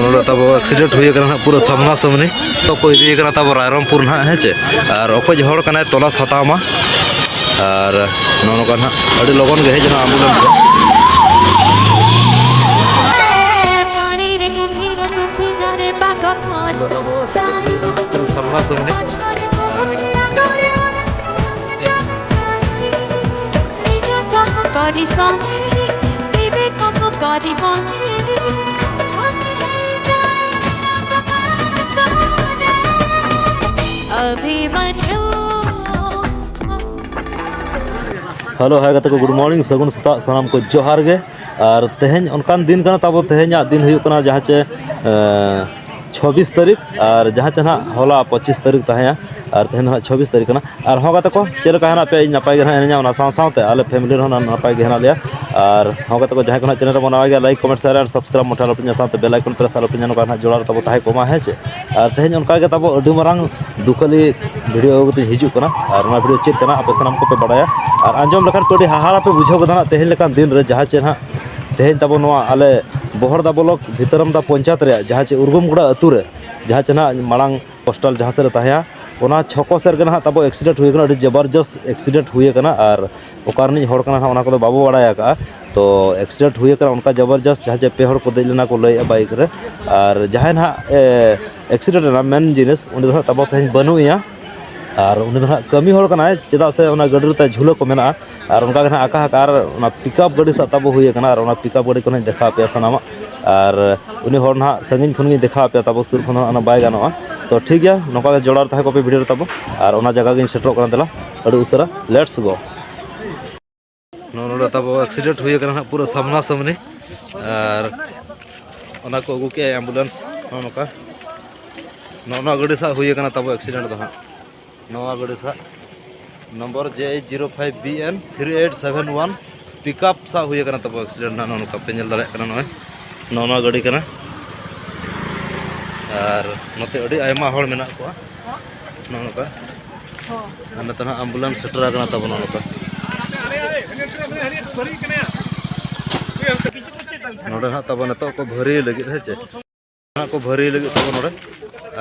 ᱱᱚᱰᱮ ᱛᱟᱵᱚ ᱮᱠᱥᱤᱰᱮᱱᱴ ᱦᱩᱭ ᱟᱠᱟᱱᱟ ᱦᱟᱸᱜ ᱯᱩᱨᱟᱹ ᱥᱟᱢᱱᱟ ᱥᱟᱢᱱᱤ ᱛᱚ ᱠᱚ ᱤᱫᱤ ᱟᱠᱟᱱᱟ ᱛᱟᱵᱚ ᱨᱟᱭᱨᱚᱝᱯᱩᱨ ᱱᱟᱦᱟᱜ ᱦᱮᱸ ᱪᱮ ᱟᱨ ᱚᱠᱚᱭ ᱦᱚᱲ ᱠᱟᱱᱟᱭ ᱛᱚᱞᱟᱥ ᱦᱟᱛᱟᱣ ᱢᱟ ᱟᱨ ᱱᱚᱜᱼᱚ ᱱᱚᱝᱠᱟ ᱱᱟᱦᱟᱜ ᱟᱹᱰᱤ ᱞᱚᱜᱚᱱ ᱜᱮ ᱦᱮᱡ ᱮᱱᱟ ᱟᱢᱵᱩᱞᱮᱱᱥ ᱫᱚ Body song, baby, come on, body one. Hello hi ᱜᱟᱛᱮ ᱠᱚ ᱜᱩᱰ ᱢᱚᱨᱱᱤᱝ ᱥᱟᱹᱜᱩᱱ ᱥᱮᱛᱟᱜ ᱥᱟᱱᱟᱢ ᱠᱚ ᱡᱚᱦᱟᱨ ᱜᱮ ᱟᱨ ᱛᱮᱦᱮᱧ ᱚᱱᱠᱟᱱ ᱫᱤᱱ ᱠᱟᱱᱟ ᱛᱟᱵᱚ ᱛᱮᱦᱮᱧᱟᱜ ᱫᱤᱱ ᱦᱩᱭᱩᱜ ᱠᱟᱱᱟ ᱡᱟᱦᱟᱸ ᱪᱮ ᱪᱷᱚᱵᱤᱥ ᱛᱟᱹᱨᱤᱠᱷ ᱟᱨ ᱡᱟᱦᱟᱸ ᱪᱮ ᱱᱟᱦᱟᱜ ᱦᱚᱞᱟ ᱯᱚᱸᱪᱤᱥ ᱛᱟᱹᱨᱤᱠᱷ ᱛᱟᱦᱮᱸᱭᱟ ᱟᱨ ᱛᱮᱦᱮᱧ ᱫᱚ ᱱᱟᱦᱟᱜ ᱪᱷᱚᱵᱤᱥ ᱛᱟᱹᱨᱤᱠᱷ ᱠᱟᱱᱟ ᱟᱨ ᱦᱚᱸ ᱜᱟᱛᱮ ᱠᱚ ᱪᱮᱫ ᱞᱮᱠᱟ ᱦᱮᱱᱟᱜ ᱯᱮᱭᱟ ᱤᱧ ᱱᱟᱯᱟᱭ ᱜᱮ ᱱᱟᱦᱟᱜ ᱦᱤᱱᱟᱹᱧᱟ ᱚᱱᱟ ᱥᱟᱶ ᱥᱟᱶᱛᱮ ᱟᱞᱮ ᱯᱷᱮᱢᱮᱞᱤ ᱨᱮᱦᱚᱸ ᱱᱟᱦᱟᱜ ᱱᱟᱯᱟᱭ ᱜᱮ ᱦᱮᱱᱟᱜ ᱞᱮᱭᱟ ᱟᱨ ᱦᱚᱸ ᱜᱟᱛᱮ ᱠᱚ ᱡᱟᱦᱟᱸᱭ ᱠᱚ ᱱᱟᱦᱟᱜ ᱪᱮᱱᱮᱞ ᱨᱮᱵᱚᱱ ᱱᱟᱣᱟ ᱜᱮᱭᱟ ᱞᱟᱭᱤᱠ ᱠᱚᱢᱮᱱᱴ ᱥᱮᱭᱟᱨ ᱟᱨ ᱥᱟᱵᱥᱠᱨᱟᱭᱤᱵᱽ ᱢᱚᱴᱷᱮ ᱟᱞᱚᱯᱮ ᱦᱤᱲᱤᱧᱟ ᱥᱟᱶᱛᱮ ᱵᱮᱞ ᱟᱭᱠᱚᱱ ᱯᱨᱮᱥ ᱟᱞᱚᱯᱮ ᱦᱤᱲᱤᱧᱟ ᱱᱚᱝᱠᱟ ᱱᱟᱦᱟᱜ ᱡᱚᱲᱟᱣ ᱨᱮ ᱛᱟᱵᱚ ᱛᱟᱦᱮᱸ ᱠᱚᱜ ᱢᱟ ᱦᱮᱸ ᱪᱮ ᱟᱨ ᱛᱮᱦᱮᱧ ᱚᱱᱠᱟ ᱜᱮ ᱛᱟᱵᱚ ᱟᱹᱰᱤ ᱢᱟᱨᱟᱝ ᱫᱩᱠᱷᱟᱹᱞᱤ ᱵᱷᱤᱰᱤᱭᱳ ᱟᱹᱜᱩ ᱠᱟᱛᱮ ᱦᱤᱡᱩᱜ ᱠᱟᱱᱟ ᱟᱨ ᱚᱱᱟ ᱵᱷᱤᱰᱤᱭᱳ ᱪᱮᱫ ᱠᱟᱱᱟ ᱟᱯᱮ ᱥᱟᱱᱟᱢ ᱠᱚᱯᱮ ᱵᱟᱲᱟᱭᱟ ᱟᱨ ᱟᱸᱡᱚᱢ ᱞᱮᱠᱷᱟᱱ ᱯᱮ ᱟᱹᱰᱤ ᱦᱟᱦᱟᱲᱟ ᱯᱮ ᱵᱩᱡᱷᱟᱹᱣ ᱜᱚᱫᱟ ᱱᱟᱦᱟᱜ ᱛᱮᱦᱮᱧ ᱞᱮᱠᱟᱱ ᱫᱤᱱ ᱨᱮ ᱡᱟᱦᱟᱸ ᱪᱮ ᱱᱟᱦᱟᱜ ᱛᱮᱦᱮᱧ ᱛᱟᱵᱚ ᱱᱚᱣᱟ ᱟᱞᱮ ᱵᱚᱦᱚᱲᱫᱟ ᱵᱞᱚᱠ ᱵᱷᱤᱛᱟᱹᱨᱟᱢᱫᱟ ᱯᱚᱧᱪᱟᱭᱮᱛ ᱨᱮᱭᱟᱜ ᱡᱟᱦᱟᱸ ᱪᱮ ᱩᱨᱜᱩᱢᱜᱩᱲᱟ ᱟᱹᱛᱩ ᱨᱮ ᱡᱟᱦᱟᱸ ᱪᱮ ᱱᱟᱦᱟᱜ ᱢᱟᱲᱟᱝ ᱯᱳᱥᱴᱟᱞ ᱡᱟᱦᱟᱸ ᱥᱮᱫ ᱨᱮ ᱛᱟᱦᱮᱸᱭᱟ ᱚᱱᱟ ᱪᱷᱚᱠᱚ ᱥᱮᱫ ᱨᱮᱜᱮ ᱱᱟᱦᱟᱜ ᱛᱟᱵᱚ ᱮᱠᱥᱤᱰᱮᱱᱴ ᱦᱩᱭ ᱠᱟᱱᱟ ᱟᱹᱰᱤ ᱡᱚᱵᱚᱨᱡᱚᱥᱛ ᱮᱠᱥᱤᱰᱮᱱᱴ ᱦᱩᱭ ᱠᱟᱱᱟ ᱟᱨ ᱚᱠᱟ ᱨᱤᱱᱤᱡ ᱦᱚᱲ ᱠᱟᱱᱟᱭ ᱱᱟᱦᱟᱜ ᱚᱱᱟ ᱠᱚᱫᱚ ᱵᱟᱵᱚ ᱵᱟᱲᱟᱭ ᱠᱟᱜᱼᱟ ᱛᱚ ᱮᱠᱥᱤᱰᱮᱱᱴ ᱦᱩᱭ ᱠᱟᱱᱟ ᱚᱱᱠᱟ ᱡᱚᱵᱚᱨᱡᱚᱥᱛ ᱡᱟᱦᱟᱸ ᱪᱮ ᱯᱮ ᱦᱚᱲ ᱠᱚ ᱫᱮᱡ ᱞᱮᱱᱟ ᱠᱚ ᱞᱟᱹᱭᱮᱜᱼᱟ ᱵᱟᱭᱤᱠ ᱨᱮ ᱟᱨ ᱡᱟᱦᱟᱸᱭ ᱱᱟᱦᱟᱜ ᱮᱠᱥᱤᱰᱮᱱᱴ ᱮᱱᱟ ᱢᱮᱱ ᱡᱤᱱᱤᱥ ᱩᱱᱤ ᱫᱚ ᱱᱟᱦᱟᱜ ᱛᱟᱵᱚ ᱛᱮᱦᱮᱧ ᱵᱟᱹᱱᱩᱜ ᱮᱭᱟ ᱟᱨ ᱩᱱᱤ ᱫᱚ ᱦᱟᱸᱜ ᱠᱟᱹᱢᱤ ᱦᱚᱲ ᱠᱟᱱᱟᱭ ᱪᱮᱫᱟᱜ ᱥᱮ ᱚᱱᱟ ᱜᱟᱹᱰᱤ ᱨᱮ ᱛᱟᱭ ᱡᱷᱩᱞᱟᱹ ᱠᱚ ᱢᱮᱱᱟᱜᱼᱟ ᱟᱨ ᱚᱱᱠᱟ ᱜᱮ ᱦᱟᱸᱜ ᱟᱠᱟ ᱦᱟᱠᱟ ᱟᱨ ᱚᱱᱟ ᱯᱤᱠᱟᱯ ᱜᱟᱹᱰᱤ ᱥᱟᱵ ᱛᱟᱵᱚ ᱦᱩᱭ ᱟᱠᱟᱱᱟ ᱟᱨ ᱚᱱᱟ ᱯᱤᱠᱟᱯ ᱜᱟᱹᱰᱤ ᱠᱚᱦᱚᱸᱧ ᱫᱮᱠᱷᱟᱣ ᱟᱯᱮᱭᱟ ᱥᱟᱱᱟᱢᱟᱜ ᱟᱨ ᱩᱱᱤ ᱦᱚᱲ ᱱᱟᱦᱟᱜ ᱥᱟᱺᱜᱤᱧ ᱠᱷᱚᱱ ᱜᱤᱧ ᱫᱮᱠᱷᱟᱣ ᱟᱯᱮᱭᱟ ᱛᱟᱵᱚ ᱥᱩᱨ ᱠᱷᱚᱱ ᱦᱚᱸ ᱚᱱᱟ ᱵᱟᱭ ᱜᱟᱱᱚᱜᱼᱟ ᱛᱚ ᱴᱷᱤᱠ ᱜᱮᱭᱟ ᱱᱚᱝᱠᱟ ᱜᱮ ᱡᱚᱲᱟᱣ ᱛᱟᱦᱮᱸ ᱠᱚᱜ ᱯᱮ ᱵᱷᱤᱰᱤᱭᱳ ᱨᱮ ᱛᱟᱵᱚ ᱟᱨ ᱚᱱᱟ ᱡᱟᱭᱜᱟ ᱜᱤᱧ ᱥᱮᱴᱮᱨᱚᱜ ᱠᱟᱱᱟ ᱫᱮᱞᱟ ᱟᱹᱰᱤ ᱩᱥᱟᱹᱨᱟ ᱞᱮᱴᱥ ᱜᱳ ᱱᱚᱰᱮ ᱛᱟᱵᱚ ᱮᱠᱥᱤᱰᱮᱱᱴ ᱦᱩᱭ ᱟᱠᱟᱱᱟ ᱦᱟᱸᱜ ᱯᱩᱨᱟᱹ ᱥᱟᱢᱱᱟ ᱥᱟᱢᱱᱤ ᱟᱨ ᱚᱱᱟ ᱠᱚ ᱟᱹᱜᱩ ᱠᱮᱜᱼᱟ ᱮᱢᱵᱩᱞᱮᱱᱥ ᱱᱚᱜᱼᱚ ᱱᱚᱝᱠᱟ ᱱᱚᱜᱼᱚ ᱱᱚᱣᱟ ᱜᱟᱹᱰᱤ ᱥᱟᱜ ᱦᱩᱭ ᱟᱠᱟᱱᱟ ᱛᱟᱵᱚ ᱮᱠᱥᱤᱰᱮᱱᱴ ᱫᱚ ᱦᱟᱸᱜ ᱱᱚᱣᱟ ᱜᱟᱹᱰᱤ ᱥᱟᱜ number J H zero five B N three eight seven one pickup ᱥᱟᱵ ᱦᱩᱭ ᱟᱠᱟᱱᱟ ᱛᱟᱵᱚ ᱮᱠᱥᱤᱰᱮᱱᱴ ᱱᱟᱜ ᱱᱚᱝᱠᱟ ᱯᱮ ᱧᱮᱞ ᱫᱟᱲᱮᱭᱟᱜ ᱠᱟᱱᱟ ᱱᱚᱜᱼᱚᱭ ᱱᱚᱜᱼᱚ ᱱᱚᱣᱟ ᱜᱟᱹᱰᱤ ᱠᱟᱱᱟ ᱟᱨ ᱱᱚᱛᱮ ᱟᱹᱰᱤ ᱟᱭᱢᱟ ᱦᱚᱲ ᱢᱮᱱᱟᱜ ᱠᱚᱣᱟ ᱱᱚᱜᱼᱚ ᱱᱚᱝᱠᱟ ᱟᱨ ᱱᱤᱛᱚᱜ ᱱᱟᱦᱟᱜ ᱟᱢᱵᱩᱞᱮᱱᱥ ᱥᱮᱴᱮᱨ ᱟᱠᱟᱱᱟ ᱛᱟᱵᱚᱱᱟ ᱱᱚᱝᱠᱟ ᱱᱚᱰᱮ ᱱᱟᱦᱟᱜ ᱛᱟᱵᱚᱱ ᱱᱤᱛᱚᱜ ᱠᱚ ᱵᱷᱟᱹᱨᱤ ᱞᱟᱹᱜᱤᱫ ᱦᱮᱸ ᱪᱮ ᱱᱟᱦᱟᱜ ᱠᱚ ᱵᱷᱟᱹᱨᱤ ᱞᱟᱹᱜᱤᱫ ᱛᱟᱵᱚᱱ ᱱᱚᱰᱮ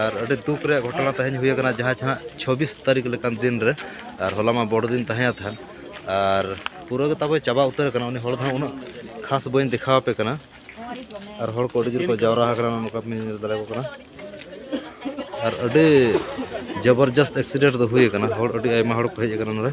ᱟᱨ ᱟᱹᱰᱤ ᱫᱩᱠ ᱨᱮᱭᱟᱜ ᱜᱷᱚᱴᱚᱱᱟ ᱛᱮᱦᱮᱧ ᱦᱩᱭ ᱟᱠᱟᱱᱟ ᱡᱟᱦᱟᱸ ᱪᱷᱟᱱᱟᱜ ᱪᱷᱚᱵᱵᱤᱥ ᱛᱟᱹᱨᱤᱠᱷ ᱞᱮᱠᱟᱱ ᱫᱤᱱ ᱨᱮ ᱟᱨ ᱦᱚᱞᱟ ᱢᱟ ᱵᱚᱲ ᱫᱤᱱ ᱛᱟᱦᱮᱸ ᱛᱟᱦᱮᱸ ᱟᱨ ᱯᱩᱨᱟᱹ ᱜᱮ ᱛᱟᱵᱚ ᱪᱟᱵᱟ ᱩᱛᱟᱹᱨ ᱟᱠᱟᱱᱟ ᱩᱱᱤ ᱦᱚᱲ ᱫᱚ ᱦᱟᱸᱜ ᱩᱱᱟᱹᱜ ᱠᱷᱟᱥ ᱵᱟᱹᱧ ᱫᱮᱠᱷᱟᱣ ᱟᱯᱮ ᱠᱟᱱᱟ ᱟᱨ ᱦᱚᱲ ᱠᱚ ᱟᱹᱰᱤ ᱡᱳᱨ ᱠᱚ ᱡᱟᱣᱨᱟ ᱟᱠᱟᱱᱟ ᱱᱚᱝᱠᱟ ᱵᱤᱱ ᱧᱮᱞ ᱫᱟᱲᱮᱭᱟᱠᱚ ᱠᱟᱱᱟ ᱟᱨ ᱟᱹᱰᱤ ᱡᱚᱵᱚᱨᱡᱚᱥᱛ ᱮᱠᱥᱤᱰᱮᱱᱴ ᱫᱚ ᱦᱩᱭ ᱟᱠᱟᱱᱟ ᱦᱚᱲ ᱟᱹᱰᱤ ᱟᱭᱢᱟ ᱦᱚᱲ ᱠᱚ ᱦᱮᱡ ᱟᱠᱟᱱᱟ ᱱᱚᱰᱮ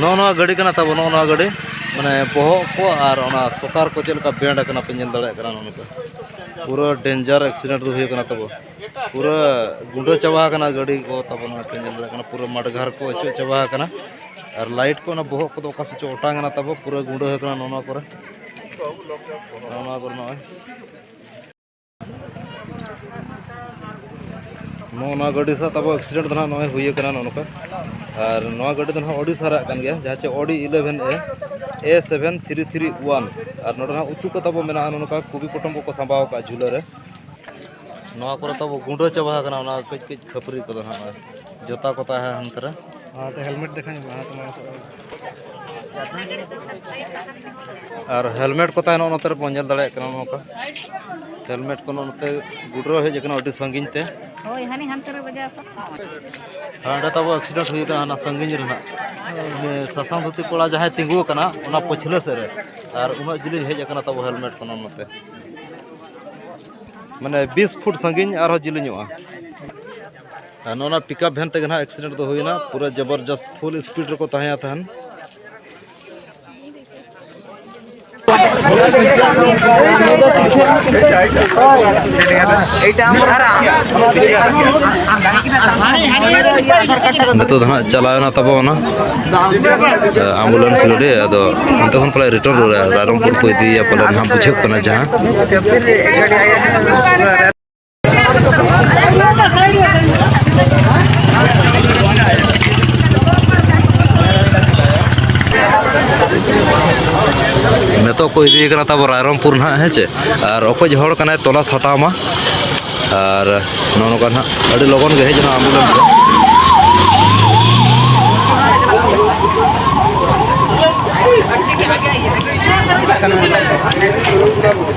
ᱱᱚᱜᱼᱚ ᱱᱚᱣᱟ ᱜᱟᱹᱰᱤ ᱠᱟᱱᱟ ᱛᱟᱵᱚ ᱱᱚᱜᱼᱚ ᱱᱚᱣᱟ ᱜᱟᱹᱰᱤ ᱢᱟᱱᱮ ᱵᱚᱦᱚᱜ ᱠᱚ ᱟᱨ ᱚᱱᱟ ᱥᱚᱠᱟᱨ ᱠᱚ ᱪᱮᱫ ᱞᱮᱠᱟ ᱵᱮᱱᱰ ᱟᱠᱟᱱᱟ ᱯᱮ ᱧᱮᱞ ᱫᱟᱲᱮᱭᱟᱜ ᱠᱟᱱᱟ ᱱᱚᱝᱠᱟ ᱯᱩᱨᱟᱹ ᱰᱮᱧᱡᱟᱨ ᱮᱠᱥᱤᱰᱮᱱᱴ ᱫᱚ ᱦᱩᱭ ᱟᱠᱟᱱᱟ ᱛᱟᱵᱚ ᱯᱩᱨᱟᱹ ᱜᱩᱸᱰᱟᱹ ᱪᱟᱵᱟ ᱟᱠᱟᱱᱟ ᱜᱟᱹᱰᱤ ᱠᱚ ᱛᱟᱵᱚ ᱱᱚᱣᱟ ᱯᱮ ᱧᱮᱞ ᱫᱟᱲᱮᱭᱟᱜ ᱠᱟᱱᱟ ᱯᱩᱨᱟᱹ ᱢᱟᱰᱜᱷᱟᱨ ᱠᱚ ᱚᱪᱚᱜ ᱪᱟᱵᱟ ᱟᱠᱟᱱᱟ ᱟᱨ ᱞᱟᱭᱤᱴ ᱠᱚ ᱚᱱᱟ ᱵᱚᱦᱚᱜ ᱠᱚᱫᱚ ᱚᱠᱟ ᱥᱮᱫ ᱪᱚ ᱚᱴᱟᱝ ᱮᱱᱟ ᱛᱟᱵᱚ ᱯᱩᱨᱟᱹ ᱜᱩᱸᱰᱟᱹ ᱟᱠᱟᱱᱟ ᱱᱚᱣᱟ ᱠᱚᱨᱮ ᱱᱚᱣᱟ ᱠᱚᱨᱮ ᱱᱚᱜᱼᱚᱭ ᱱᱚᱜᱼᱚ ᱱᱚᱣᱟ ᱜᱟᱹᱰᱤ ᱥᱟᱶ ᱛᱟᱵᱚ ᱮᱠᱥᱤᱰᱮᱱᱴ ᱫᱚ ᱱᱟᱦᱟᱜ ᱱᱚᱜᱼᱚᱭ ᱦᱩᱭ ᱟᱠᱟᱱᱟ ᱱᱚᱜᱼᱚ ᱱᱚᱝᱠᱟ ᱟᱨ ᱱᱚᱣᱟ ᱜᱟᱹᱰᱤ ᱫᱚ ᱱᱟᱦᱟᱜ ᱚᱰᱤ ᱥᱟᱨᱟᱜ ᱠᱟᱱ ᱜᱮᱭᱟ ᱡᱟᱦᱟᱸ ᱪᱮ ᱚᱰᱤ eleven A A seven three three one ᱟᱨ ᱱᱚᱰᱮ ᱱᱟᱦᱟᱜ ᱩᱛᱩ ᱠᱚ ᱛᱟᱵᱚ ᱢᱮᱱᱟᱜᱼᱟ ᱱᱚᱜᱼᱚ ᱱᱚᱝᱠᱟ ᱠᱚᱵᱤ ᱯᱚᱴᱚᱢ ᱠᱚᱠᱚ ᱥᱟᱸᱵᱟᱣ ᱟᱠᱟᱫᱼᱟ ᱡᱷᱩᱞᱟᱹ ᱨᱮ ᱱᱚᱣᱟ ᱠᱚᱨᱮ ᱛᱟᱵᱚ ᱜᱩᱸᱰᱟᱹ ᱪᱟᱵᱟ ᱟᱠᱟᱱᱟ ᱚᱱᱟ ᱠᱟᱹᱡ ᱠᱟᱹᱡ ᱠᱷᱟᱹᱯᱟᱹᱨᱤ ᱠᱚᱫᱚ ᱱᱟᱦᱟᱜ ᱡᱚᱛᱟ ᱠᱚ ᱛᱟᱦᱮᱸ ᱦᱟᱱᱛᱮ ᱨᱮ ᱦᱮᱞᱢᱮᱴ ᱫᱮᱠᱷᱟᱣ ᱧᱚᱜ ᱢᱮ ᱟᱨ ᱦᱮᱞᱢᱮᱴ ᱠᱚ ᱛᱟᱦᱮᱱᱟ ᱱᱚᱛᱮ ᱨᱮᱵᱚᱱ ᱧᱮᱞ ᱫᱟᱲᱮᱭᱟᱜ ᱠᱟᱱᱟ ᱱᱚᱝᱠᱟ ᱦᱮᱞᱢᱮᱴ ᱠᱚ ᱱᱚᱛᱮ ᱜᱩᱰᱨᱟᱹ ᱦᱮᱡ ᱟᱠᱟᱱᱟ ᱟᱹᱰᱤ ᱥᱟᱺᱜᱤᱧ ᱛᱮ ᱦᱳᱭ ᱦᱟᱱᱮ ᱦᱟᱱᱛᱮ ᱨᱮ ᱵᱟᱡᱟᱣ ᱦᱟᱸᱰᱮ ᱛᱟᱵᱚ ᱮᱠᱥᱤᱰᱮᱱᱴ ᱦᱩᱭ ᱟᱠᱟᱱᱟ ᱦᱟᱱᱟ ᱥᱟᱺᱜᱤᱧ ᱨᱮᱱᱟᱜ ᱥᱟᱥᱟᱝ ᱫᱷᱩᱛᱤ ᱠᱚᱲᱟ ᱡᱟᱦᱟᱸᱭ ᱛᱤᱸᱜᱩ ᱟᱠᱟᱱᱟ ᱚᱱᱟ ᱯᱟᱹᱪᱷᱞᱟᱹ ᱥᱮᱫ ᱨᱮ ᱟᱨ ᱩᱱᱟᱹᱜ ᱡᱤᱞᱤᱧ ᱦᱮᱡ ᱟᱠᱟᱱᱟ ᱛᱟᱵᱚ ᱦᱮᱞᱢᱮᱴ ᱠᱚ ᱱᱚᱛᱮ ᱢᱟᱱᱮ ᱵᱤᱥ ᱯᱷᱩᱴ ᱥᱟᱺᱜᱤᱧ ᱟᱨᱦᱚᱸ ᱡᱤᱞᱤᱧᱚᱜᱼᱟ ᱟᱨ ᱱᱚᱣᱟ ᱯᱤᱠᱟᱯ ᱵᱷᱮᱱ ᱛᱮᱜᱮ ᱱᱟᱦᱟᱜ ᱮᱠᱥᱤᱰᱮᱱᱴ ᱫᱚ ᱦᱩᱭᱱᱟ ᱯᱩᱨᱟᱹ ᱡᱚᱵᱚᱨᱡᱚᱥᱛ ᱯᱷᱩᱞ ᱥᱯᱤᱰ ᱨᱮᱠᱚ ᱛᱟᱦᱮᱸᱭᱟ ᱛᱟᱦᱮᱱ ᱱᱤᱛᱚᱜ ᱫᱚ ᱦᱟᱸᱜ ᱪᱟᱞᱟᱣᱱᱟ ᱛᱟᱵᱚᱱᱟ ᱟᱢᱵᱩᱞᱮᱱᱥ ᱜᱟᱹᱰᱤ ᱟᱫᱚ ᱚᱱᱛᱮ ᱠᱷᱚᱱ ᱯᱟᱞᱮ ᱨᱤᱴᱟᱨᱱ ᱨᱩᱣᱟᱹᱲᱟ ᱨᱟᱭᱨᱚᱝᱯᱩᱨ ᱠᱚ ᱤᱫᱤᱭᱮᱭᱟ ᱯᱟᱞᱮ ᱱᱟᱦᱟᱜ ᱵᱩᱡᱷᱟᱹᱜ ᱠᱟᱱᱟ ᱡᱟᱦᱟᱸ ᱱᱤᱛᱚᱜ ᱠᱚ ᱤᱫᱤᱭᱮ ᱠᱟᱱᱟ ᱛᱟᱵᱚ ᱨᱟᱭᱨᱚᱝᱯᱩᱨ ᱱᱟᱦᱟᱜ ᱦᱮᱸ ᱪᱮ ᱟᱨ ᱚᱠᱚᱭ ᱦᱚᱲ ᱠᱟᱱᱟᱭ ᱛᱚᱞᱟᱥ ᱦᱟᱛᱟᱣ ᱢᱟ ᱟᱨ ᱱᱚᱜᱼᱚ ᱱᱚᱝᱠᱟ ᱱᱟᱦᱟᱜ ᱟᱹᱰᱤ ᱞᱚᱜᱚᱱ ᱜᱮ ᱦᱮᱡ ᱮᱱᱟ ᱟᱢᱵᱩᱞᱮᱱᱥ ᱫᱚ Thank you.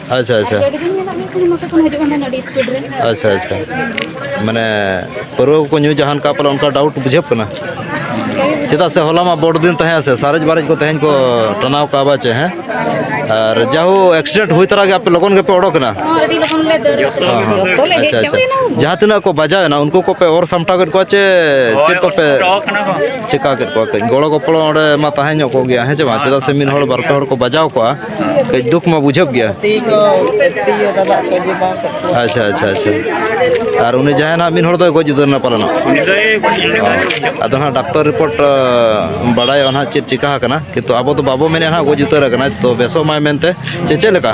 ᱟᱪᱪᱷᱟ ᱟᱪᱪᱷᱟ ᱟᱹᱰᱤ ᱫᱤᱱ ᱢᱮᱱᱟᱜ ᱢᱮ ᱠᱷᱟᱱ ᱢᱚᱛᱚ ᱠᱷᱚᱱ ᱦᱤᱡᱩᱜ ᱠᱟᱱ ᱛᱟᱦᱮᱱᱟ ᱟᱹᱰᱤ ᱥᱯᱤᱰ ᱨᱮ ᱟᱪᱪᱷᱟ ᱟᱪᱪᱷᱟ ᱢᱟᱱᱮ ᱯᱟᱹᱨᱣᱟᱹ ᱠᱚᱠᱚ ᱧᱩ ᱡᱟᱦᱟᱱ ᱠᱟ ᱯᱟᱞᱮ ᱚᱱᱠᱟ ᱰᱟᱣᱩᱴ ᱵᱩᱡᱷᱟᱹᱜ ᱠᱟᱱᱟ ᱪᱮᱫᱟᱜ ᱥᱮ ᱦᱚᱞᱟ ᱢᱟ ᱵᱚᱲ ᱫᱤᱱ ᱛᱟᱦᱮᱸ ᱥᱮ ᱥᱟᱨᱮᱡ ᱵᱟᱨᱮᱡ ᱠᱚ ᱛᱮᱦᱮᱧ ᱠᱚ ᱴᱟᱱᱟᱣ ᱠᱟᱜᱼᱟ ᱵᱟ ᱪᱮ ᱦᱮᱸ ᱟᱨ ᱡᱟᱦᱳ ᱮᱠᱥᱤᱰᱮᱱᱴ ᱦᱩᱭ ᱛᱟᱨᱟ ᱜᱮ ᱟᱯᱮ ᱞᱚᱜᱚᱱ ᱜᱮᱯᱮ ᱚᱰᱚᱠ ᱮᱱᱟ ᱦᱚᱸ ᱟᱹᱰᱤ ᱞᱚᱜᱚᱱ ᱞᱮ ᱫᱟᱹᱲ ᱠᱟᱛᱮ ᱦᱚᱸ, ᱦᱚᱸ᱾ ᱡᱚᱛᱚ ᱞᱮ ᱦᱮᱡ ᱟᱪᱪᱷᱟ, ᱟᱪᱪᱷᱟ᱾ ᱪᱟᱵᱟᱭᱮᱱᱟ ᱡᱟᱦᱟᱸ ᱛᱤᱱᱟᱹᱜ ᱠᱚ ᱵᱟᱡᱟᱣ ᱮᱱᱟ ᱩᱱᱠᱩ ᱠᱚᱯᱮ ᱚᱨ ᱥᱟᱢᱴᱟᱣ ᱠᱮᱫ ᱠᱚᱣᱟ ᱪᱮ ᱪᱮᱫ ᱠᱚᱯᱮ ᱪᱮᱠᱟ ᱠᱮᱫ ᱠᱚᱣᱟ ᱠᱟᱹᱡ ᱜᱚᱲᱚ ᱜᱚᱯᱚᱲᱚ ᱚᱸᱰᱮ ᱢᱟ ᱛᱟᱦᱮᱸ ᱧᱚᱜ ᱠᱚᱜ ᱜᱮᱭᱟ ᱦᱮᱸ ᱪᱮ ᱵᱟᱝ ᱪᱮᱫᱟᱜ ᱥᱮ ᱢᱤᱫ ᱦᱚᱲ ᱵᱟᱨ ᱯᱮ ᱦᱚᱲ ᱠᱚ ᱵᱟᱡᱟᱣ ᱠᱚᱜᱼᱟ ᱠᱟᱹᱡ ᱫᱩᱠ ᱢᱟ ᱵᱩᱡᱷᱟᱹᱜ ᱜᱮᱭᱟ ᱟᱪᱪᱷᱟ ᱟᱪᱪᱷᱟ ᱟᱪᱪᱷᱟ ᱟᱨ ᱩᱱᱤ ᱡᱟᱦᱟᱸᱭ ᱱᱟᱦᱟᱜ ᱢᱤᱫ ᱦᱚᱲ ᱫᱚᱭ ᱜᱚᱡ ᱩᱛᱟᱹᱨ ᱮᱱᱟ ᱯᱟᱞᱮᱱ ᱟᱫᱚ ᱱᱟᱦᱟᱜ ᱰᱟᱠᱛᱚᱨ ᱨᱤᱯᱳᱨᱴ ᱵᱟᱲᱟᱭᱚᱜᱼᱟ ᱱᱟᱦᱟᱜ ᱪᱮᱫ ᱪᱤᱠᱟ ᱟᱠᱟᱱᱟ ᱠᱤᱱᱛᱩ ᱟᱵᱚ ᱫᱚ ᱵᱟᱵᱚ ᱢᱮᱱᱮᱫ ᱱᱟᱦᱟᱜ ᱜᱚᱡ ᱩᱛᱟᱹᱨ ᱟᱠᱟᱱᱟ ᱛᱚ ᱵᱮᱥᱚᱜ ᱢᱟᱭ ᱢᱮᱱᱛᱮ ᱪᱮ ᱪᱮᱫ ᱞᱮᱠᱟ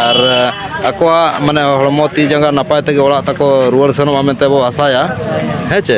ᱟᱨ ᱟᱠᱚᱣᱟᱜ ᱢᱟᱱᱮ ᱦᱚᱲᱢᱚ ᱛᱤ ᱡᱟᱸᱜᱟ ᱱᱟᱯᱟᱭ ᱛᱮᱜᱮ ᱚᱲᱟᱜ ᱛᱟᱠᱚ ᱨᱩᱣᱟᱹᱲ ᱥᱮᱱᱚᱜᱼᱟ ᱢᱮᱱᱛᱮ ᱵᱚ ᱟᱥᱟᱭᱟ ᱦᱮᱸ ᱪᱮ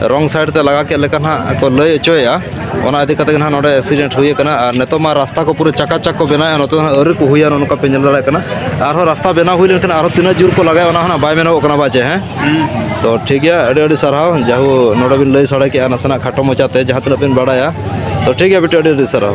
ᱨᱚᱝ ᱥᱟᱭᱤᱰ ᱛᱮ ᱞᱟᱜᱟ ᱠᱮᱫ ᱞᱮᱠᱟ ᱱᱟᱦᱟᱜ ᱠᱚ ᱞᱟᱹᱭ ᱦᱚᱪᱚᱭᱮᱫᱼᱟ ᱚᱱᱟ ᱤᱫᱤ ᱠᱟᱛᱮ ᱱᱟᱦᱟᱜ ᱱᱚᱰᱮ ᱮᱠᱥᱤᱰᱮᱱᱴ ᱦᱩᱭ ᱟᱠᱟᱱᱟ ᱟᱨ ᱱᱤᱛᱚᱜ ᱢᱟ ᱨᱟᱥᱛᱟ ᱠᱚ ᱯᱩᱨᱟᱹ ᱪᱟᱠᱟᱪᱟᱠ ᱠᱚ ᱵᱮᱱᱟᱣᱮᱫᱼᱟ ᱱᱚᱛᱮ ᱫᱚ ᱟᱹᱣᱨᱤ ᱠᱚ ᱦᱩᱭᱟ ᱱᱚᱝᱠᱟ ᱯᱮ ᱧᱮᱞ ᱫᱟᱲᱮᱭᱟᱜ ᱠᱟᱱᱟ ᱟᱨᱦᱚᱸ ᱨᱟᱥᱛᱟ ᱵᱮᱱᱟᱣ ᱦᱩᱭ ᱞᱮᱱᱠᱷᱟᱱ ᱟᱨᱦᱚᱸ ᱛᱤᱱᱟᱹᱜ ᱡᱳᱨ ᱠᱚ ᱞᱟᱜᱟᱭᱟ ᱚᱱᱟ ᱦᱚᱸ ᱵᱟᱭ ᱢᱮᱱᱚᱜᱚᱜ ᱠᱟᱱᱟ ᱵᱟᱪᱮ ᱦᱮᱸ ᱛᱚ ᱴᱷᱤᱠ ᱜᱮᱭᱟ ᱟᱹᱰᱤ ᱟᱹᱰᱤ ᱥᱟᱨᱦᱟᱣ ᱡᱟᱦᱳ ᱱᱚᱰᱮ ᱵᱤᱱ ᱞᱟᱹᱭ ᱥᱟᱰᱮ ᱠᱮᱫᱼᱟ ᱱᱟᱥᱮᱱᱟᱜ ᱠᱷᱟᱴᱚ ᱢᱚᱪᱟᱛᱮ ᱡᱟᱦᱟᱸ ᱛᱤᱱᱟᱹᱜ ᱵᱤᱱ ᱵᱟᱲᱟᱭᱟ ᱛᱚ ᱴᱷᱤᱠ ᱜᱮᱭᱟ ᱵᱤᱴᱤ ᱟᱹᱰᱤ ᱟᱹᱰᱤ ᱥᱟᱨᱦᱟᱣ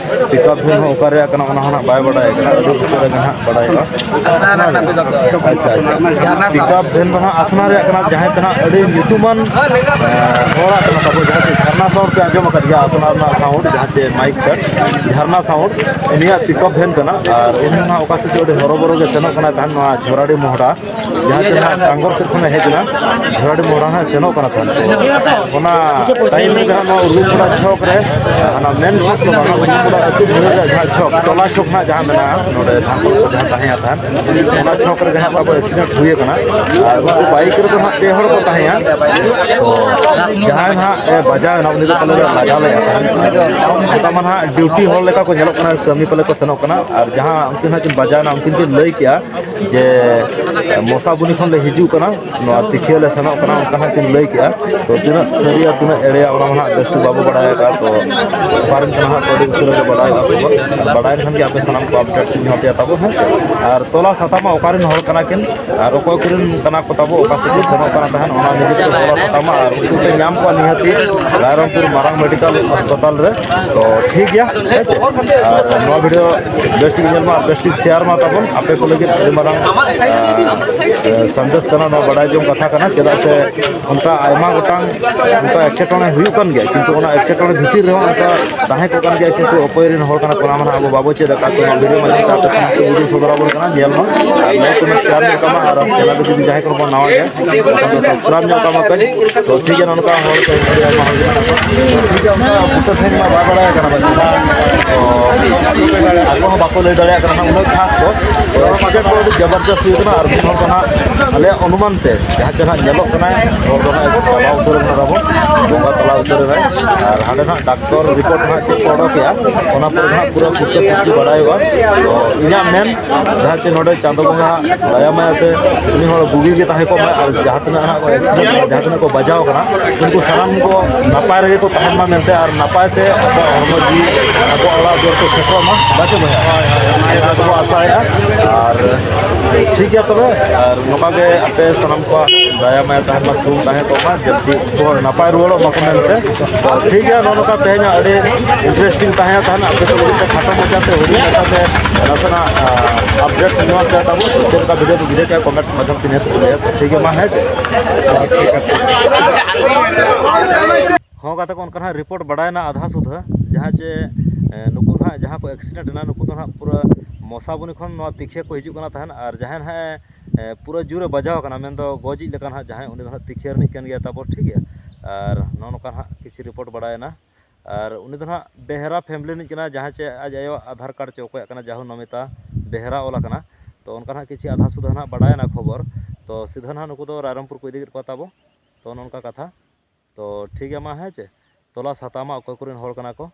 ᱯᱤᱠᱟᱯ ᱵᱷᱮᱱ ᱦᱚᱸ ᱚᱠᱟ ᱨᱮᱭᱟᱜ ᱠᱟᱱᱟ ᱚᱱᱟ ᱦᱚᱸ ᱱᱟᱦᱟᱜ ᱵᱟᱭ ᱵᱟᱰᱟᱭ ᱠᱟᱱᱟ ᱟᱹᱰᱤ ᱩᱥᱟᱹᱨᱟ ᱜᱮ ᱱᱟᱦᱟᱜ ᱵᱟᱰᱟᱭᱚᱜᱼᱟ ᱟᱪᱪᱷᱟ ᱟᱪᱪᱷᱟ ᱯᱤᱠᱟᱯ ᱵᱷᱮᱱ ᱫᱚ ᱱᱟᱦᱟᱜ ᱟᱥᱱᱟ ᱨᱮᱭᱟᱜ ᱠᱟᱱᱟ ᱡᱟᱦᱟᱸᱭ ᱫᱚ ᱱᱟᱦᱟᱜ ᱟᱹᱰᱤ ᱧᱩᱛᱩᱢᱟᱱ ᱦᱚᱲᱟᱜ ᱠᱟᱱᱟ ᱛᱟᱵᱚ ᱡᱟᱦᱟᱸ ᱪᱮ ᱡᱷᱟᱨᱱᱟ ᱥᱟᱣᱩᱱᱰ ᱯᱮ ᱟᱸᱡᱚᱢ ᱟᱠᱟᱫ ᱜᱮᱭᱟ ᱟᱥᱱᱟ ᱨᱮᱱᱟᱜ ᱥᱟᱣᱩᱱᱰ ᱡᱟᱦᱟᱸ ᱪᱮ ᱢᱟᱭᱤᱠ ᱥᱮᱴ ᱡᱷᱟᱨᱱᱟ ᱥᱟᱣᱩᱱᱰ ᱩᱱᱤᱭᱟᱜ ᱯᱤᱠᱟᱯ ᱵᱷᱮᱱ ᱠᱟᱱᱟ ᱟᱨ ᱩᱱᱤ ᱱᱟᱦᱟᱜ ᱚᱠᱟ ᱥᱮᱫ ᱪᱚ ᱟᱹᱰᱤ ᱦᱚᱨᱚᱵᱚᱨᱚ ᱜᱮ ᱥᱮᱱᱚᱜ ᱠᱟᱱᱟ ᱛᱟᱦᱮᱱ ᱱᱚᱣᱟ ᱡᱷᱚᱨᱟᱰᱤ ᱢᱚᱦᱰᱟ ᱡᱟᱦᱟᱸ ᱪᱮ ᱱᱟᱦᱟᱜ ᱴᱟᱝᱜᱚᱨ ᱥᱮᱫ ᱠᱷᱚᱱᱮ ᱦᱮᱡ ᱮᱱᱟ ᱡᱷᱚᱲᱟᱰᱤ ᱢᱳᱲ ᱦᱟᱸᱜ ᱥᱮᱱᱚᱜ ᱠᱟᱱᱟ ᱛᱟᱦᱮᱸ ᱚᱱᱟ ᱴᱟᱭᱤᱢ ᱨᱮ ᱡᱟᱦᱟᱸ ᱱᱚᱣᱟ ᱩᱨᱜᱩᱯᱩᱨᱟ ᱪᱷᱚᱠ ᱨᱮ ᱚᱱᱟ ᱢᱮᱱ ᱪᱷᱚᱠ ᱫᱚ ᱵᱟᱝ ᱩᱨᱜᱩᱯᱩᱨᱟ ᱟᱹᱛᱩ ᱵᱷᱤᱲ ᱨᱮᱭᱟᱜ ᱡᱟᱦᱟᱸ ᱪᱷᱚᱠ ᱴᱚᱞᱟ ᱪᱷᱚᱠ ᱦᱟᱸᱜ ᱡᱟᱦᱟᱸ ᱢᱮᱱᱟᱜᱼᱟ ᱱᱚᱰᱮ ᱴᱟᱝᱜᱚᱨ ᱥᱮᱫ ᱡᱟᱦᱟᱸ ᱛᱟᱦᱮᱸᱭᱟ ᱛᱟᱦᱮᱸ ᱚᱱᱟ ᱪᱷᱚᱠ ᱨᱮ ᱡᱟᱦᱟᱸ ᱛᱟᱵᱚ ᱮᱠᱥᱤᱰᱮᱱᱴ ᱦᱩᱭ ᱟᱠᱟᱱᱟ ᱟᱨ ᱩᱱᱠᱩ ᱵᱟᱭᱤᱠ ᱨᱮᱫᱚ ᱦᱟᱸᱜ ᱯᱮ ᱦᱚᱲ ᱠᱚ ᱛᱟᱦᱮᱸᱭᱟ ᱛᱚ ᱡᱟᱦᱟᱸᱭ ᱦᱟᱸᱜ ᱮ ᱵᱟᱡᱟᱣ ᱮᱱᱟ ᱩᱱᱤ ᱫᱚ ᱯᱟᱞᱮ ᱞᱮ ᱞᱟᱜᱟ ᱞᱮᱫᱼᱟ ᱛᱟᱦᱮᱸ ᱚᱱᱠᱟ ᱢᱟ ᱦᱟᱸᱜ ᱰᱤᱭᱩᱴᱤ ᱦᱚᱲ ᱞᱮᱠᱟ ᱠᱚ ᱧᱮᱞᱚᱜ ᱠᱟᱱᱟ ᱠᱟᱹᱢᱤ ᱯᱟᱞᱮ ᱠᱚ ᱥᱮᱱᱚᱜ ᱠᱟᱱᱟ ᱟᱨ ᱡᱟᱦᱟᱸ ᱩᱱᱠᱤᱱ ᱦᱟᱸᱜ ᱠᱤᱱ ᱵᱟᱡᱟᱣ ᱮᱱᱟ ᱩᱱᱠᱤᱱ ᱠᱤᱱ ᱞᱟᱹᱭ ᱠᱮᱜᱼᱟ ᱡᱮ ᱢᱚᱥᱟᱵᱩᱱᱤ ᱠᱷᱚᱱ ᱞᱮ ᱦᱤᱡᱩᱜ ᱠᱟᱱᱟ ᱱᱚᱣᱟ ᱛᱤᱠᱷᱤᱭᱟᱹ ᱞᱮ ᱥᱮᱱᱚᱜ ᱠᱟᱱᱟ ᱚᱱᱠᱟ ᱦᱟᱸᱜ ᱠᱤᱱ ᱞᱟᱹᱭ ᱠᱮᱜᱼᱟ ᱛᱚ ᱛᱤᱱᱟᱹᱜ ᱥᱟᱹᱨᱤᱭᱟ ᱛᱤᱱᱟᱹᱜ ᱮᱲᱮᱭᱟ ᱚᱱᱟ ᱢᱟ ᱦᱟᱸᱜ ᱵᱮᱥᱴᱷᱤᱠ ᱵᱟᱵᱚ ᱵᱟᱲᱟᱭ ᱟᱠᱟᱫᱼᱟ ᱛᱚ ᱯᱟᱨᱚᱢ ᱠᱟᱱᱟ ᱦᱟᱸᱜ ᱟᱹᱰᱤ ᱩᱥᱟᱹᱨᱟ ᱜᱮ ᱵᱟᱲᱟᱭᱚᱜᱼᱟ ᱠᱷᱚᱵᱚᱨ ᱵᱟᱲᱟᱭ ᱞᱮᱠᱷᱟᱱ ᱜᱮ ᱟᱯᱮ ᱥᱟᱱᱟᱢ ᱠᱚ ᱟᱯᱰᱮᱴ ᱥᱤᱧ ᱮᱢᱟ ᱯᱮᱭᱟ ᱛᱟᱵᱚ ᱦᱮᱸ ᱟᱨ ᱛᱚᱞᱟ ᱥᱟᱛᱟᱢᱟ ᱚᱠᱟᱨᱮᱱ ᱦᱚᱲ ᱠᱟᱱᱟ ᱠᱤᱱ ᱟᱨ ᱚᱠᱚᱭ ᱠᱚᱨᱮᱱ ᱠᱟᱱᱟ ᱠᱚ ᱛᱟᱵᱚ ᱚᱠᱟ ᱥᱮᱫ ᱠᱚ ᱥᱮᱱᱚᱜ ᱠᱟᱱᱟ ᱛᱟᱦᱮᱱ ᱚᱱᱟ ᱱᱤᱡᱮ ᱛᱮ ᱛᱚᱞᱟ ᱥᱟᱛᱟᱢᱟ ᱟᱨ ᱩᱱᱠᱩ ᱯᱮ ᱧᱟᱢ ᱠᱚᱣᱟ ᱱᱤᱦᱟᱹᱛᱤ ᱨᱟᱭᱨᱚᱝᱯᱩᱨ ᱢᱟᱨᱟᱝ ᱢᱮᱰᱤᱠᱟᱞ ᱦᱟᱥᱯᱟᱛᱟᱞ ᱨᱮ ᱛᱚ ᱴᱷᱤᱠ ᱜᱮᱭᱟ ᱦᱮᱸ ᱪᱮ ᱟᱨ ᱱᱚᱣᱟ ᱵᱷᱤᱰᱤᱭᱳ ᱵᱮᱥ ᱴᱷᱤᱠ ᱧᱮᱞ ᱢᱟ ᱵᱮᱥ ᱴᱷᱤᱠ ᱥᱮᱭᱟᱨ ᱢᱟ ᱛᱟᱵᱚᱱ ᱟᱯᱮ ᱠᱚ ᱞᱟᱹᱜᱤᱫ ᱟᱹᱰᱤ ᱢᱟᱨᱟᱝ ᱥᱟᱸᱫᱮᱥ ᱠᱟᱱᱟ ᱱᱚᱣᱟ ᱵᱟᱰᱟᱭ ᱡᱚᱝ ᱠᱟᱛᱷᱟ ᱠᱟᱱᱟ ᱪᱮᱫᱟᱜ ᱥᱮ ᱚᱱᱠᱟ ᱟᱭᱢᱟ ᱜᱚᱴᱟᱝ ᱚᱱᱠᱟ ᱮᱴᱠᱮᱴᱚᱬᱮ ᱦᱩᱭᱩᱜ ᱠᱟᱱ ᱜᱮᱭᱟ ᱠᱤᱱᱛᱩ ᱚᱱᱟ ᱮᱴᱠᱮᱴᱚᱬᱮ ᱵᱷᱤᱛᱤᱨ ᱨᱮᱦᱚᱸ ᱚᱱᱠᱟ ᱛᱟᱦᱮᱸ ᱠᱚᱜ ᱠᱟᱱ ᱜᱮᱭᱟ ᱠᱤᱱᱛᱩ ᱚᱠᱚᱭ ᱨᱮᱱ ᱦᱚᱲ ᱠᱟᱱᱟ ᱠᱚ ᱚᱱᱟ ᱢᱟ ᱟᱵᱚ ᱵᱟᱵᱚ ᱪᱮᱫ ᱟᱠᱟᱫ ᱠᱚᱣᱟ ᱵᱷᱤᱰᱤᱭᱳ ᱢᱟᱫᱽᱫᱷᱚᱢ ᱛᱮ ᱟᱯᱮ ᱥᱟᱢᱟᱝ ᱨᱮ ᱵᱷᱤᱰᱤᱭᱳ ᱥᱚᱫᱚᱨ ᱟᱵᱚᱱ ᱠᱟᱱᱟ ᱧᱮᱞ ᱢᱟ ᱟᱨ ᱞᱟᱭᱤᱠ ᱠᱚᱢᱮᱱᱴ ᱥᱮᱭᱟᱨ ᱢᱮ ᱛᱟᱵᱚᱱ ᱟᱨ ᱪᱮᱱᱮᱞ ᱨᱮ ᱡᱩᱫᱤ ᱡᱟᱦᱟᱸᱭ ᱠᱚ ᱱᱟᱣᱟ ᱜᱮᱭᱟ ᱥᱟᱱᱟᱢ ᱧᱚᱜ ᱠᱟᱜ ᱢᱟᱯᱮ ᱛᱚ ᱴᱷᱤᱠ ᱜᱮᱭᱟ ᱱᱚᱝᱠᱟ ᱦᱚᱲ ᱠᱚ ᱟᱭᱢᱟ ᱦᱚᱲ ᱢᱮᱱᱟᱜ ᱠᱚᱣᱟ ᱴᱷᱤᱠ ᱜᱮᱭᱟ ᱚᱱᱠᱟ ᱵᱩᱴᱟᱹ ᱥᱟᱺᱦᱤᱡ ᱢᱟ ᱵᱟᱭ ᱵᱟᱲᱟᱭ ᱠᱟᱱᱟ ᱵᱟᱝ ᱟᱠᱚ ᱦᱚᱸ ᱵᱟᱠᱚ ᱞᱟᱹᱭ ᱫᱟᱲᱮᱭᱟᱜ ᱠᱟᱱᱟ ᱩᱱᱟᱹᱜ ᱠᱷᱟᱥ ᱫᱚ ᱮᱠᱥᱤᱰᱮᱱᱴ ᱠᱚ ᱟᱹᱰᱤ ᱡᱚᱵᱚᱨᱫᱚᱥ ᱦᱩᱭ ᱠᱟᱱᱟ ᱟᱨ ᱢᱤᱫ ᱦᱚᱲ ᱫᱚ ᱦᱟᱸᱜ ᱟᱞᱮᱭᱟᱜ ᱚᱱᱩᱢᱟᱱ ᱛᱮ ᱡᱟᱦᱟᱸ ᱪᱮ ᱦᱟᱸᱜ ᱧᱮᱞᱚᱜ ᱠᱟᱱᱟ ᱦᱚᱲ ᱫᱚ ᱦᱟᱸᱜ ᱪᱟᱞᱟᱣ ᱩᱛᱟᱹᱨ ᱠᱟᱱᱟ ᱛᱟᱵᱚᱱ ᱵᱚᱸᱜᱟ ᱛᱟᱞᱟ ᱩᱛᱟᱹᱨ ᱮᱱᱟᱭ ᱟᱨ ᱦᱟᱸᱰᱮ ᱦᱟᱸᱜ ᱰᱟᱠᱛᱚᱨ ᱨᱤᱯᱳᱨᱴ ᱦᱟᱸᱜ ᱪᱮᱫ ᱠᱚ ᱚᱰᱚᱠᱮᱜᱼᱟ ᱚᱱᱟ ᱯᱚᱨᱮ ᱦᱟᱸᱜ ᱯᱩᱨᱟᱹ ᱯᱩᱥᱴᱟᱹ ᱯᱩᱥᱴᱤ ᱵᱟᱲᱟᱭᱚᱜᱼᱟ ᱛᱚ ᱤᱧᱟᱹᱜ ᱢᱮᱱ ᱡᱟᱦᱟᱸ ᱪᱮ ᱱᱚᱰᱮ ᱪᱟᱸᱫᱚ ᱵᱚᱸᱜᱟ ᱫᱟᱭᱟ ᱢᱟᱭᱟ ᱛᱮ ᱩᱱᱤ ᱦᱚᱲ ᱵᱩᱜᱤ ᱜᱮ ᱛᱟᱦᱮᱸ ᱠᱚᱜ ᱢᱟ ᱟᱨ ᱡᱟᱦᱟᱸ ᱛᱤᱱᱟᱹᱜ ᱦᱟᱸᱜ ᱮᱠᱥᱤᱰᱮᱱᱴ ᱡᱟᱦᱟᱸ ᱛᱤᱱᱟᱹᱜ ᱠᱚ ᱵᱟᱡᱟᱣ ᱠᱟᱱᱟ ᱩᱱᱠᱩ ᱥᱟᱱᱟᱢ ᱠᱚ ᱱᱟᱯᱟᱭ ᱨᱮᱜᱮ ᱠᱚ ᱛᱟᱦᱮᱱ ᱢᱟ ᱢᱮᱱᱛᱮ ᱟᱨ ᱱᱟᱯᱟᱭ ᱛᱮ ᱟᱠᱚᱣᱟᱜ ᱦᱚᱲᱢᱚ ᱡᱤᱣᱤ ᱟᱠᱚᱣᱟᱜ ᱚᱲᱟᱜ ᱫᱩᱣᱟᱹᱨ ᱠᱚ ᱥᱮᱴᱮᱨᱚᱜ ᱢᱟ ᱵᱟᱪᱮ ᱵᱚᱭᱦᱟ ᱚᱱᱟ ᱠᱚ ᱟᱥᱟᱭᱮᱫᱼᱟ ᱟᱨ ᱴᱷᱤᱠ ᱜᱮᱭᱟ ᱛᱚᱵᱮ ᱟᱨ ᱱᱚᱝᱠᱟ ᱜᱮ ᱟᱯᱮ ᱥᱟᱱᱟᱢ ᱠᱚᱣᱟᱜ ᱫᱟᱭᱟ ᱢᱟᱭᱟ ᱛᱟᱦᱮᱱ ᱢᱟ ᱛᱷᱩᱢ ᱛᱟᱦᱮᱸ ᱠᱚᱜ ᱢᱟ ᱡᱟᱛᱮ ᱩᱱᱠᱩ ᱦᱚᱲ ᱱᱟᱯᱟᱭ ᱨᱩᱣᱟᱹᱲᱚᱜ ᱢᱟᱠᱚ ᱢᱮᱱᱛᱮ ᱴᱷᱤᱠ ᱜᱮᱭᱟ ᱱᱚᱜᱼᱚ ᱱᱚᱝᱠᱟ ᱛᱮᱦᱮᱧ ᱟᱹᱰᱤ ᱤᱱᱴᱟᱨᱮᱥᱴᱤᱝ ᱛᱟᱦᱮᱸ ᱛᱟᱦᱮᱱ ᱟᱯᱮ ᱠᱚ ᱞᱟᱹᱜᱤᱫ ᱛᱮ ᱠᱷᱟᱴᱚ ᱢᱟᱪᱷᱟᱛᱮ ᱦᱩᱰᱤᱧ ᱢᱟᱪᱷᱟᱛᱮ ᱱᱟᱥᱮᱱᱟᱜ ᱟᱯᱰᱮᱴᱥ ᱮᱢᱟ ᱯᱮᱭᱟ ᱛᱟᱵᱚ ᱪᱮᱫ ᱞᱮᱠᱟ ᱵᱷᱤᱰᱤᱭᱳ ᱠᱚ ᱵᱷᱤᱰᱤᱭᱳ ᱠᱮᱫᱟ ᱠᱚᱢᱮᱱᱴᱥ ᱢᱟᱫᱽᱫᱷᱚᱢ ᱛᱮ ᱱᱤᱦᱟᱹᱛ ᱞᱟᱹᱭᱟ ᱴᱷᱤᱠ ᱜᱮᱭᱟ ᱢᱟ ᱦᱮᱸ ᱪᱮ ᱦᱚᱸ ᱜᱟᱛᱮ ᱠᱚ ᱚᱱᱠᱟ ᱦᱟᱸᱜ ᱨᱤᱯᱳᱨᱴ ᱵᱟᱰᱟᱭᱮᱱᱟ ᱟᱫᱷᱟ ᱥᱩᱫᱷᱟᱹ ᱡᱟᱦᱟᱸ ᱪᱮ ᱱᱩᱠᱩ ᱦᱟᱸᱜ ᱡᱟᱦᱟᱸ ᱠᱚ ᱮᱠᱥᱤᱰᱮᱱᱴ ᱮᱱᱟ ᱱᱩᱠᱩ ᱫᱚ ᱦᱟᱸᱜ ᱯᱩᱨᱟᱹ ᱢᱚᱥᱟᱵᱚᱱᱤ ᱠᱷᱚᱱ ᱱᱚᱣᱟ ᱛᱤᱠᱷᱤᱭᱟᱹ ᱠᱚ ᱦᱤᱡᱩᱜ ᱠᱟᱱᱟ ᱛᱟᱦᱮᱱ ᱟᱨ ᱡᱟᱦᱟᱸᱭ ᱦᱟᱸᱜ ᱮ ᱯᱩᱨᱟᱹ ᱡᱳᱨᱮ ᱵᱟᱡᱟᱣ ᱠᱟᱱᱟ ᱢᱮᱱᱫᱚ ᱜᱚᱡᱤᱡ ᱞᱮᱠᱟ ᱦᱟᱸᱜ ᱡᱟᱦᱟᱸᱭ ᱩᱱᱤ ᱫᱚ ᱦᱟᱸᱜ ᱛᱤᱠᱷᱤᱭᱟᱹ ᱨᱤᱱᱤᱡ ᱠᱟᱱ ᱜᱮᱭᱟᱭ ᱛᱟᱵᱚ ᱴᱷᱤᱠ ᱜᱮᱭᱟ ᱟᱨ ᱱᱚᱜᱼᱚ ᱱᱚᱝᱠᱟ ᱦᱟᱸᱜ ᱠᱤᱪᱷᱩ ᱨᱤᱯᱳᱨᱴ ᱵᱟᱲᱟᱭᱮᱱᱟ ᱟᱨ ᱩᱱᱤ ᱫᱚ ᱦᱟᱸᱜ ᱵᱮᱦᱨᱟ ᱯᱷᱮᱢᱮᱞᱤ ᱨᱤᱱᱤᱡ ᱠᱟᱱᱟᱭ ᱡᱟᱦᱟᱸᱭ ᱪᱮ ᱟᱡ ᱟᱭᱳᱣᱟᱜ ᱟᱫᱷᱟᱨ ᱠᱟᱨᱰ ᱪᱮ ᱚᱠᱚᱭᱟᱜ ᱠᱟᱱᱟ ᱡᱟᱦᱳ ᱱᱚᱢᱤᱛᱟ ᱵᱮᱦᱨᱟ ᱚᱞ ᱟᱠᱟᱱᱟ ᱛᱚ ᱚᱱᱠᱟ ᱦᱟᱸᱜ ᱠᱤᱪᱷᱩ ᱟᱫᱷᱟ ᱥᱩᱫᱷᱟ ᱦᱟᱸᱜ ᱵᱟᱰᱟᱭᱮᱱᱟ ᱠᱷᱚᱵᱚᱨ ᱛᱚ ᱥᱤᱫᱷᱟᱹ ᱦᱟᱸᱜ ᱱᱩᱠᱩ ᱫᱚ ᱨᱟᱭᱨᱚᱝᱯᱩᱨ ᱠᱚ ᱤᱫᱤ ᱠᱮᱫ ᱠᱚᱣᱟ ᱛᱟᱵᱚ ᱛᱚ ᱱᱚᱝᱠᱟ ᱠᱟᱛᱷᱟ ᱛᱚ ᱴᱷᱤᱠ ᱜᱮᱭᱟ ᱢᱟ ᱦᱮᱸ ᱪᱮ ᱛᱚᱞᱟᱥ ᱦᱟᱛᱟᱣ ᱢᱟ ᱚᱠᱚᱭ ᱠᱚᱨᱮᱱ ᱦᱚᱲ ᱠᱟᱱᱟ ᱠᱚ